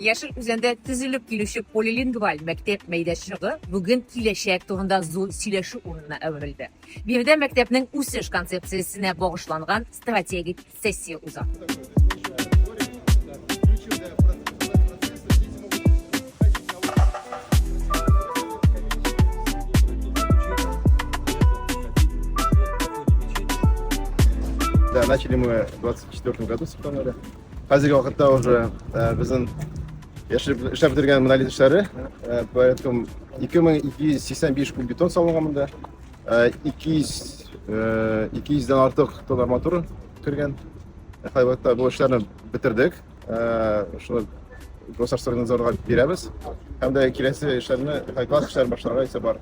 Яшел Үзәндә төзелеп килүче полилингваль мәктәп мәйданчыгы бүген киләчәк турында зур сөйләшү урынына әверелде. Биредә мәктәпнең үсеш концепциясенә багышланган стратегик сессия уза. Да, начали мы в 2024 году с сентября. Хәзерге вакытта уже безнең яшереп эшләп бетергән монолит эшләре порядком 2285 куб бетон салынган монда. 200 200-дән артык тон арматура кергән. Хәзерге вакытта бу эшләрне бетердек. Шуны Госарстройнадзорга бирәбез. Һәм дә киләсе эшләрне, класс эшләрен башларга исә бар.